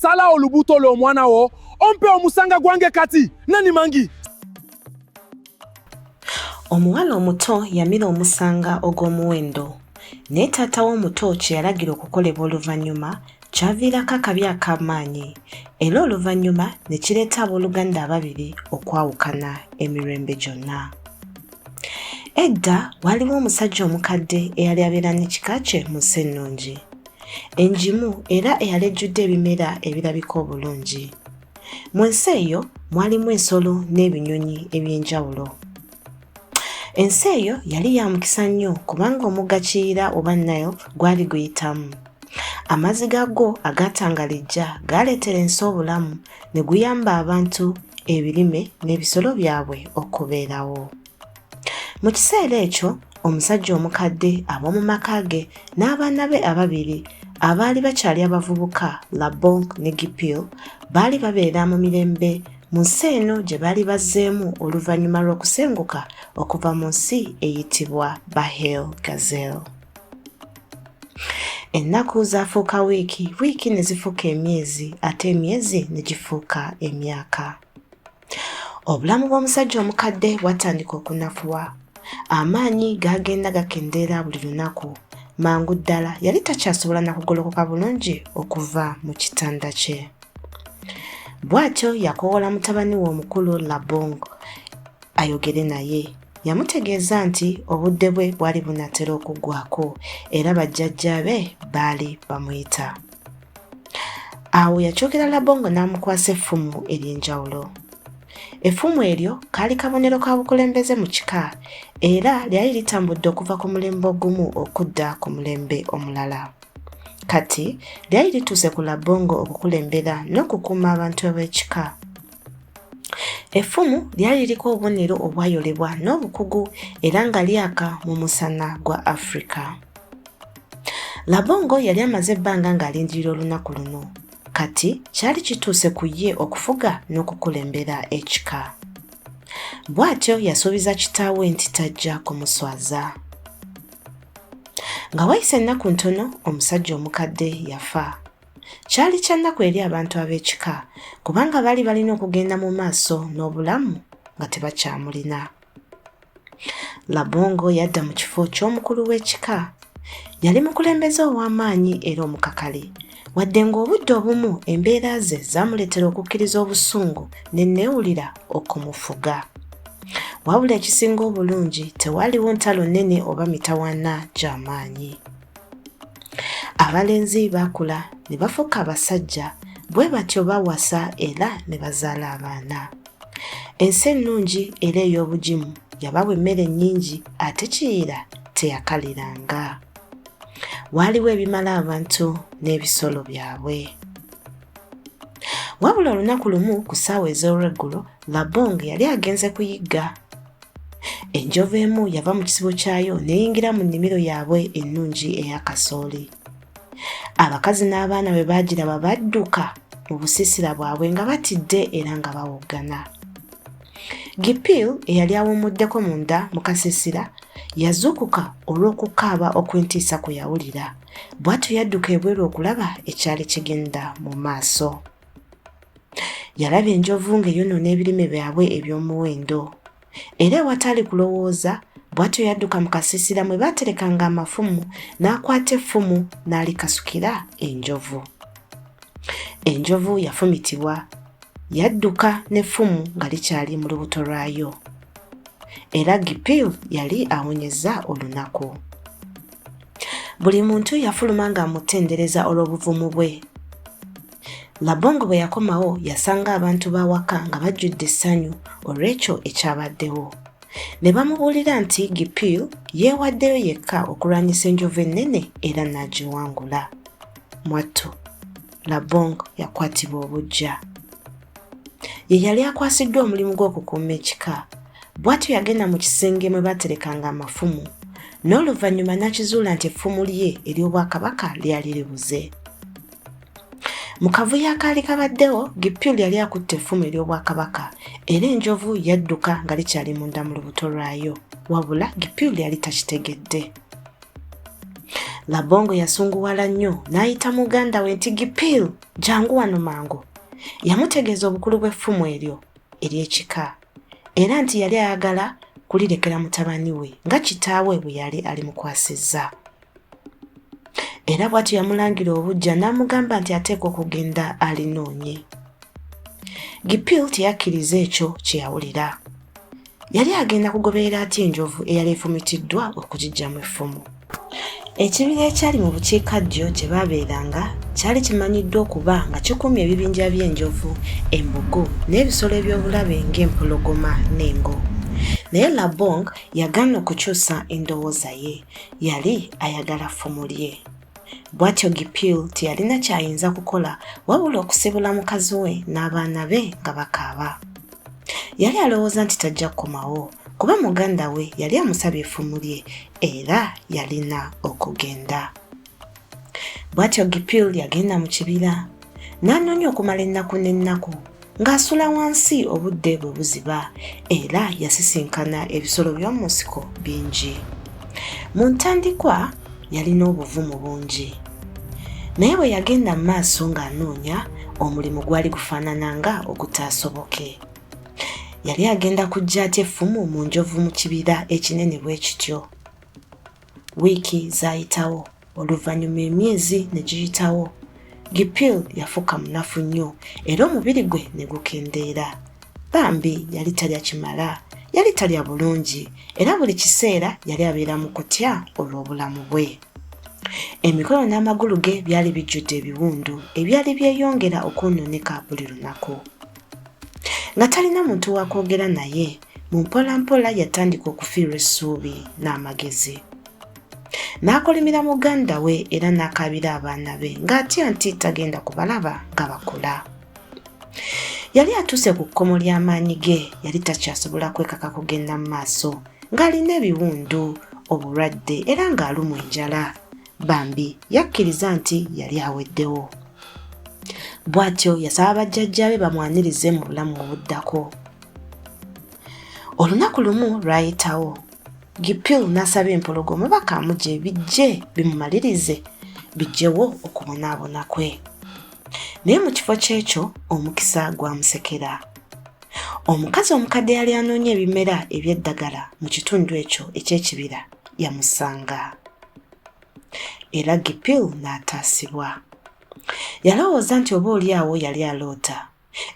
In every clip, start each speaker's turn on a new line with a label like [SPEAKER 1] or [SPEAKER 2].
[SPEAKER 1] sala olubuto lwo mwana wo ompe omusanga gwange kati nani mangi
[SPEAKER 2] omuwala omuto yamira omusanga ogw'omuwendo naye taata w'omuto kye yalagira okukolebwa oluvannyuma kyaviirako akabi ak'amaanyi era oluvannyuma ne kireeta abooluganda ababiri okwawukana emirembe gyonna Edda waaliwo omusajja omukadde eyali abeera n'ekika kye mu nsi ennungi, engimu era eyali ejjudde ebimera ebirabika obulungi. Mu nsi eyo mwalimu ensolo n'ebinyonyi eby'enjawulo. Ensi eyo yali ya mukisa nnyo kubanga omugga Kiyira oba Nile gwali guyitamu. Amazzi gaagwo agaatangalijja gaaleetera ensi obulamu ne guyamba abantu ebirime n'ebisolo byabwe okubeerawo mu kiseera ekyo omusajja omukadde ab'omu maka ge n'abaana be ababiri abaali bakyali abavubuka labonk ne gipil baali babeera mu mirembe mu nsi eno gye baali bazzeemu oluvannyuma lw'okusenguka okuva mu nsi eyitibwa bahel gazel ennaku zaafuuka wiiki wiiki ne zifuuka emyezi ate emyezi ne gifuuka emyaka obulamu bw'omusajja omukadde bwatandika okunafuwa amaanyi gaagenda gakendeera buli lunaku mangu ddala yali takyasobola na kugolokoka bulungi okuva mu kitanda kye bw'atyo yakoowola mutabani we omukulu labong ayogere naye yamutegeeza nti obudde bwe bwali bunatera okuggwako era bajjajja be baali bamuyita awo yakyogera labongo n'amukwasa effumu ery'enjawulo effumu eryo kaali kabonero ka bukulembeze mu kika era lyali litambudde okuva ku mulembe ogumu okudda ku mulembe omulala kati lyali lituuse ku labongo okukulembera n'okukuuma abantu ab'ekika Effumu lyali liriko obubonero obwayolebwa n'obukugu era nga lyaka mu musana gwa Afrika. Labongo yali amaze ebbanga ng'alindirira olunaku luno. Kati kyali kituuse ku ye okufuga n'okukulembera ekika. Bw'atyo yasuubiza kitaawe nti tajja kumuswaza. Nga wayise ennaku ntono, omusajja omukadde yafa. Kyali kya nnaku eri abantu ab'ekika kubanga baali balina okugenda mu maaso n'obulamu nga tebakyamulina. Labongo yadda mu kifo ky'omukulu w'ekika. Yali mukulembeze ow'amaanyi era omukakali. Wadde ng'obudde obumu embeera ze zaamuleetera okukkiriza obusungu ne nneewulira okumufuga. Wabula ekisinga obulungi tewaaliwo ntalo nnene oba mitawaana gy'amaanyi. abalenzi bakula ne bafuuka abasajja bwe batyo bawasa era ne bazaala abaana ensi ennungi era ey'obugimu yabawa emmere nnyingi ate kiyira teyakaliranga waaliwo ebimala abantu n'ebisolo byabwe wabula olunaku lumu ku ssaawa ez'olweggulo labong yali agenze kuyigga enjovu emu yava mu kisibo kyayo neyingira mu nnimiro yaabwe ennungi eya kasooli abakazi n'abaana bwe baagiraba badduka mu busiisira bwabwe nga batidde era nga bawoggana gipil eyali awummuddeko munda mu kasiisira yazuukuka olw'okukaaba okw'entiisa kwe yawulira bw'atyo yadduka ebweru okulaba ekyali kigenda mu maaso yalaba enjovu ng'eyonoona ebirime byabwe eby'omuwendo era ewataali kulowooza bw'atyo yadduka mu kasiisira mwe baaterekanga amafumu n'akwata effumu n'alikasukira enjovu enjovu yafumitibwa yadduka n'effumu nga likyali mu lubuto lwayo era gipil yali awonyezza olunaku buli muntu yafuluma ng'amutendereza olw'obuvumu bwe labongo bwe yakomawo yasanga abantu b'awaka nga bajjudde essanyu olw'ekyo ekyabaddewo ne bamubuulira nti gipil yeewaddeyo yekka okulwanyisa enjovu ennene era n'agiwangula mwattu Labong yakwatibwa obuggya. Ye yali akwasiddwa omulimu gw'okukuuma ekika. Bw'atyo yagenda mu kisenge mwe baaterekanga amafumu n'oluvannyuma n'akizuula nti effumu lye ery'obwakabaka lyali libuze. Mu kavuyo akaali kabaddewo, Gipyul yali akutte effumu ery'obwakabaka era enjovu yadduka nga likyali munda mu lubuto lwayo. Wabula Gipyul yali takitegedde. labongo yasunguwala nnyo n'ayita muganda we nti gipiil jangu wano mangu yamutegeeza obukulu bw'effumu eryo ery'ekika era nti yali ayagala kulirekera mutabani we nga kitaawe bwe yali alimukwasizza era bw'atyo yamulangira obujja n'amugamba nti ateekwa okugenda alinoonye gipiil teyakkiriza ekyo kye yawulira yali agenda kugoberera ati enjovu eyali efumitiddwa okugiggyamu effumu ekibira ekyali mu bukiikaddyo gye baabeeranga kyali kimanyiddwa okuba nga kikuumye ebibinja by'enjovu embogo n'ebisolo eby'obulabe ng'empologoma n'engo naye labong yagaana okukyusa endowooza ye yali ayagala ffumu lye bw'atyo gipil teyalina ky'ayinza kukola wabula okusibula mukazi we n'abaana be nga bakaaba yali alowooza nti tajja kukomawo kuba muganda we yali amusabye effumu lye era yalina okugenda bw'atyo gipil yagenda mu kibira n'anoonya okumala ennaku n'ennaku ng'asula wansi obudde bwe buziba era yasisinkana ebisolo by'omu nsiko bingi mu ntandikwa yalina obuvumu bungi naye bwe yagenda mu maaso ng'anoonya omulimu gwali gufaanana nga ogutaasoboke yali agenda kujja atya effumu mu njovu mu kibira ekinene bwe kityo wiiki zaayitawo oluvannyuma emyezi ne giyitawo Gipil yafuuka munafu nnyo era omubiri gwe ne gukendeera. Bambi yali talya kimala, yali talya bulungi era buli kiseera yali abeera mu kutya olw'obulamu bwe. Emikono n'amagulu ge byali bijjudde ebiwundu ebyali byeyongera okwonooneka buli lunaku. Nga talina muntu wa kwogera naye, mu mpolampola yatandika okufiirwa essuubi n'amagezi. n'akolimira muganda we era n'akaabira abaana be ng'atya nti tagenda kubalaba nga bakula yali atuuse ku kkomo ly'amaanyi ge yali takyasobola kwekaka kugenda mu maaso ng'alina ebiwundu obulwadde era ng'alumwa enjala bambi yakkiriza nti yali aweddewo bw'atyo yasaba bajjajjaabe bamwanirize mu bulamu obuddako olunaku lumu lwayitawo gipil n'asaba empologoma bakamuje bijje bimumalirize bijjewo okubonaabona kwe naye mu kifo ky'ekyo omukisa gwamusekera omukazi omukadde yali anoonya ebimera eby'eddagala mu kitundu ekyo eky'ekibira yamusanga era gipil n'ataasibwa yalowooza nti oba oli awo yali aloota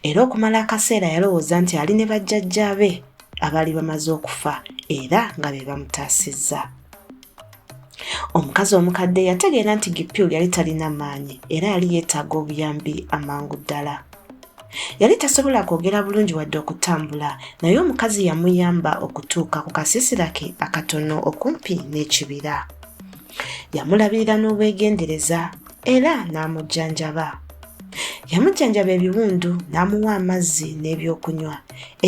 [SPEAKER 2] era okumala akaseera yalowooza nti ali ne bajjajjaabe abaali bamaze okufa era nga be bamutaasizza omukazi omukadde yategeera nti gipyul yali talina maanyi era yali yeetaaga obuyambi amangu ddala yali tasobola kwogera bulungi wadde okutambula naye omukazi yamuyamba okutuuka ku kasiisira ke akatono okumpi n'ekibira yamulabirira n'obwegendereza era n'amujjanjaba. Yamujjanjaba ebiwundu n'amuwa amazzi n'ebyokunywa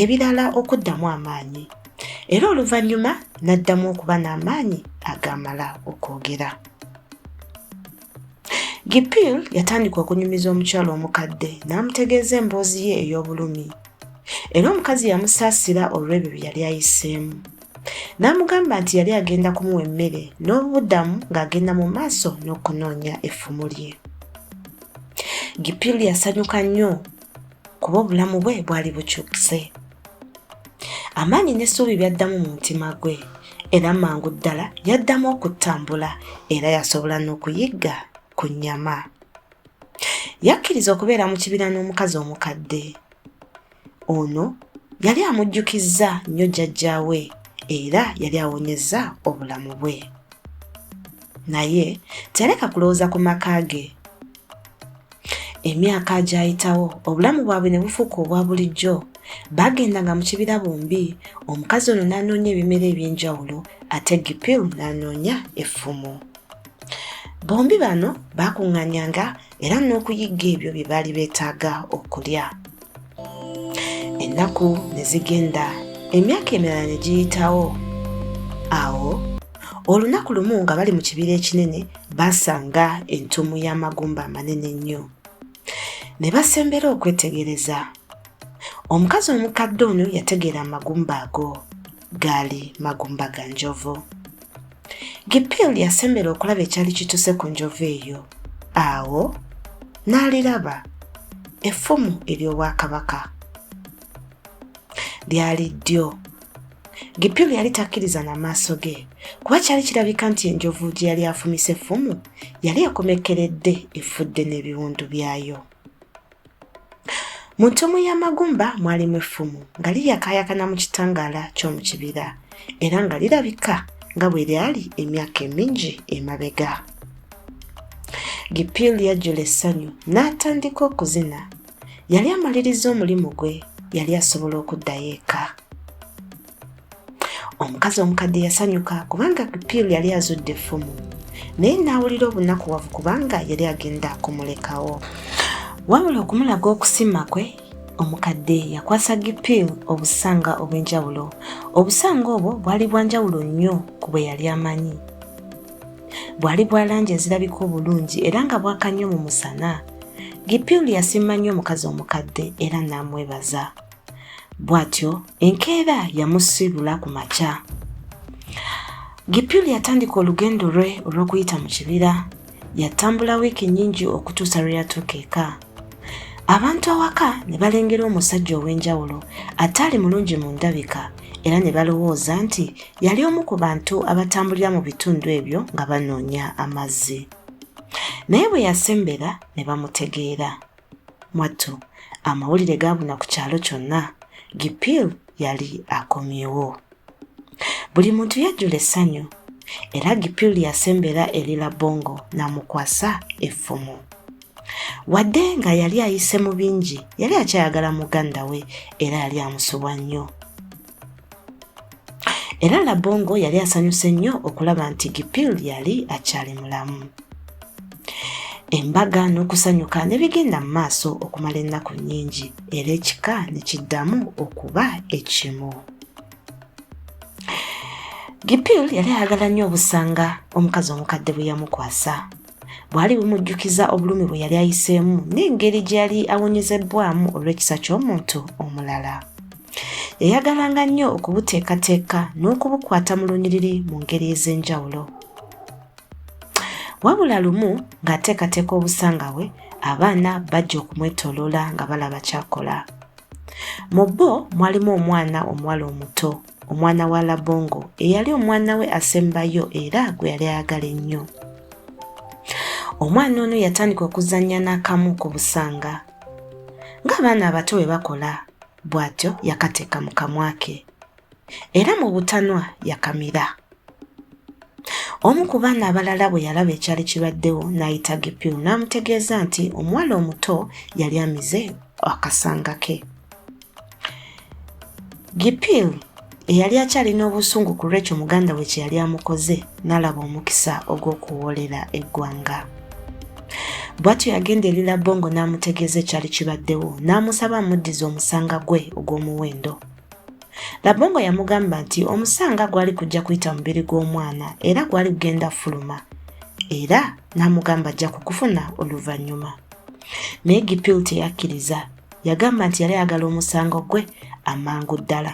[SPEAKER 2] ebirala okuddamu amaanyi, era oluvannyuma n'addamu okuba n'amaanyi agaamala okwogera. Gipil yatandika okunyumiza omukyala omukadde n'amutegeeza emboozi ye ey'obulumi, era omukazi yamusaasira olw'ebyo bye yali ayiseemu. N'amugamba nti yali agenda kumuwa emmere n'obuddamu ng'agenda mu maaso n'okunoonya effumu lye. Gipil yasanyuka nnyo kuba obulamu bwe bwali bukyukise. Amaanyi n'essuubi byaddamu mu mutima gwe era mangu ddala yaddamu okutambula era yasobola n'okuyigga ku nnyama. Yakkiriza okubeera mu kibira n'omukazi omukadde. Ono yali amujjukizza nnyo jjajjaawe era yali awonyezza obulamu bwe. Naye teyaleka kulowooza ku maka ge. Emyaka agyayitawo obulamu bwabwe ne bufuuka obwa bulijjo. Baagendanga mu kibira bombi, omukazi ono n'anoonya ebimera eby'enjawulo ate Gipil n'anoonya effumu. Bombi bano baakuŋŋanyanga era n'okuyigga ebyo bye baali beetaaga okulya ennaku ne zigenda emyaka emirala ne giyitawo awo olunaku lumu nga bali mu kibira ekinene baasanga entumu y'amagumba amanene ennyo ne basembera okwetegereza omukazi omukadde ono yategeera amagumba ago gaali magumba ga njovu gipil yasembera okulaba ekyali kituse ku njovu eyo awo n'aliraba effumu ery'obwakabaka lyali ddyo gipil yali takkiriza na maaso ge kuba kyali kirabika nti enjovu gye yali afumise effumu yali ekomekkeredde efudde n'ebiwundu byayo Mu ntomo ya Magumba mwalimu effumu nga liyakaayakana mu kitangaala ky'omu kibira era nga lirabika nga bwe lyali emyaka emingi emabega. Gipil yajjula essanyu n'atandika okuzina. Yali amaliriza omulimu gwe, yali asobola okuddayo eka. omukazi omukadde yasanyuka kubanga piru yali azudde effumu naye n'awulira obunakuwavu kubanga yali agenda kumulekawo wabula okumulaga okusima kwe omukadde yakwasa gipil obusanga obw'enjawulo obusanga obwo bwali bwanjawulo nnyo ku bwe yali amanyi bwali bwa langi ezirabika obulungi era nga bwaka nnyo mu musana gipil yasiima nnyo omukazi omukadde era n'amwebaza bw'atyo enkeera yamusiibula ku makya gipyuli yatandika olugendo lwe olw'okuyita mu kibira yatambula wiiki nnyingi okutuusa lwe yatuuka eka abantu awaka ne balengera omusajja ow'enjawulo ataali mulungi mu ndabika era ne balowooza nti yali omu ku bantu abatambulira mu bitundu ebyo nga banoonya amazzi naye bwe yasembera ne bamutegeera mwattu amawulire gaabuna ku kyalo kyonna gipiil yali akomyewo buli muntu yajjula essanyu era gipiil yasembera eri labongo n'amukwasa effumu wadde nga yali ayise mu bingi yali akyayagala muganda we era yali amusubwa nnyo era labongo yali asanyuse nnyo okulaba nti gipil yali akyali mulamu embaga n'okusanyuka ne bigenda mu maaso okumala ennaku nnyingi era ekika ne kiddamu okuba ekimu gipil yali ayagala nnyo obusanga omukazi omukadde bwe yamukwasa bwali bumujjukiza obulumi bwe yali ayiseemu n'engeri gye yali awonyezebbwamu olw'ekisa ky'omuntu omulala Yayagalanga nnyo okubuteekateeka n'okubukwata mu lunyiriri mu ngeri ez'enjawulo. Wabula lumu ng'ateekateeka obusanga bwe, abaana bajja okumwetooloola nga balaba ky'akola. Mu bo mwalimu omwana omuwala omuto, omwana wa Labongo, eyali omwana we asembayo era gwe yali ayagala ennyo. Omwana ono yatandika okuzannya n'akamu ku busanga. ng'abaana abato bwe bakola bw'atyo yakateeka mu kamwa ke era mu butanwa yakamira omu ku baana abalala bwe yalaba ekyali kibaddewo n'ayita gipiru n'amutegeeza nti omuwala omuto yali amize akasanga ke Gipil eyali akyalina obusungu ku lw'ekyo muganda we kye yali amukoze n'alaba omukisa ogw'okuwoolera eggwanga bw'atyo yagenda eri labongo n'amutegeeza ekyali kibaddewo n'amusaba amuddize omusanga gwe ogw'omuwendo labongo yamugamba nti omusanga gwali kujja kuyita mubiri gw'omwana era gwali kugenda fuluma era n'amugamba ajja kukufuna oluvannyuma naye gipil teyakkiriza yagamba nti yali ayagala omusango gwe amangu ddala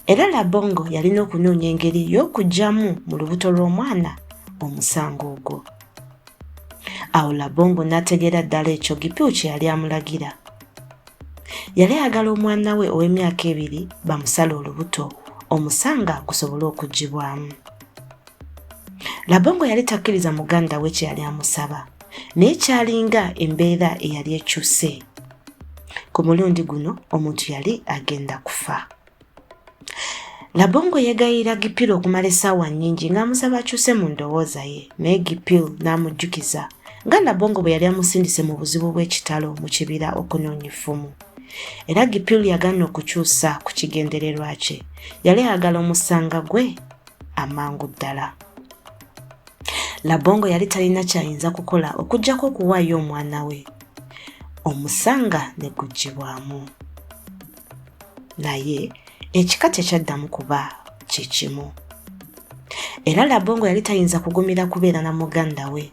[SPEAKER 2] era labongo yalina okunoonya engeri y'okugyamu mu lubuto lw'omwana omusango ogwo awo labongo n'ategeera ddala ekyo gipiu kye yali amulagira yali ayagala omwana we ow'emyaka ebiri bamusala olubuto omusanga gusobole okugibwamu labongo yali takkiriza muganda we kye yali amusaba naye kyalinga embeera eyali ekyuse ku mulundi guno omuntu yali agenda kufa labongo yegayirira gipiro okumala essaawa nnyingi ng'amusaba akyuse mu ndowooza ye naye gipiro n'amujjukiza nga labongo bwe yali amusindise mu buzibu bw'ekitalo mu kibira okunoonya effumu era gipiro yagaana okukyusa ku kigendererwa kye yali ayagala omusanga gwe amangu ddala labongo yali talina kyayinza kukola okuggyako okuwaayo omwana we omusanga ne guggyibwamu naye ekika tekyaddamu kuba kye kimu era labongo yali tayinza kugumira kubeera na muganda we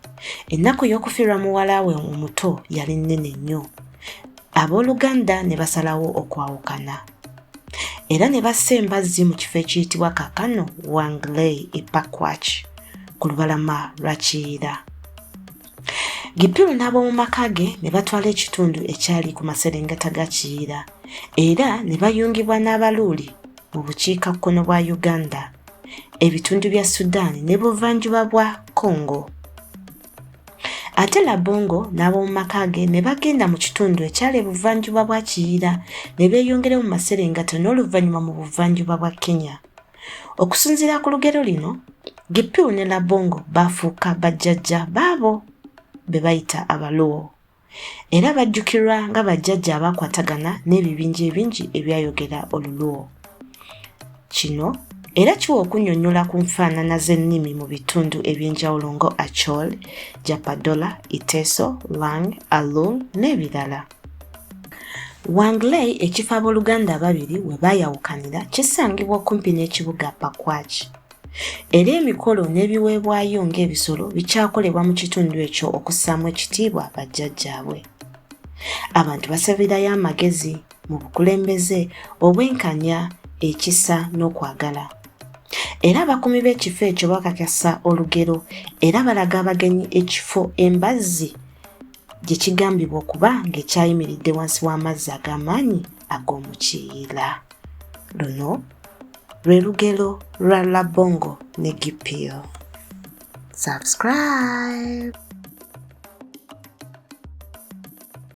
[SPEAKER 2] ennaku y'okufiirwa muwala we omuto yali nnene nnyo abooluganda ne basalawo okwawukana era ne bassa embazzi mu kifo ekiyitibwa kakano wangley epakwach ku lubalama lwa kiyira gipiru n'ab'omu maka ge ne batwala ekitundu ekyali ku maserengeta ga kiyira era ne bayungibwa n'abaluuli mu bukiika kkono bwa uganda ebitundu bya sudan ne buvanjuba bwa congo ate labongo n'ab'omu maka ge ne bagenda mu kitundu ekyali ebuvanjuba bwa kiyira ne beeyongera mu maserengata n'oluvannyuma mu buvanjuba bwa kenya okusinziira ku lugero lino gipiu ne labongo baafuuka bajjajja baabo be bayita abaluwo era bajjukirwa nga bajjajja abaakwatagana n'ebibinja ebingi ebyayogera oluluwo kino era kiwa okunnyonnyola ku nfaanana z'ennimi mu bitundu eby'enjawulo nga achol japadola iteso lang alul n'ebirala wangley ekifo ab'oluganda ababiri we baayawukanira kisangibwa okumpi n'ekibuga pakwach era emikolo n'ebiweebwayo ng'ebisolo bikyakolebwa mu kitundu ekyo okussaamu ekitiibwa bajjajjaabwe abantu basabirayo amagezi mu bukulembeze obwenkanya ekisa n'okwagala era abakuumi b'ekifo ekyo bakakasa olugero era balaga abagenyi ekifo embazzi gye kigambibwa okuba ng'ekyayimiridde wansi w'amazzi ag'amaanyi ag'omukiira Luno lwe lugero lwa Labongo ne Gipio. Subscribe!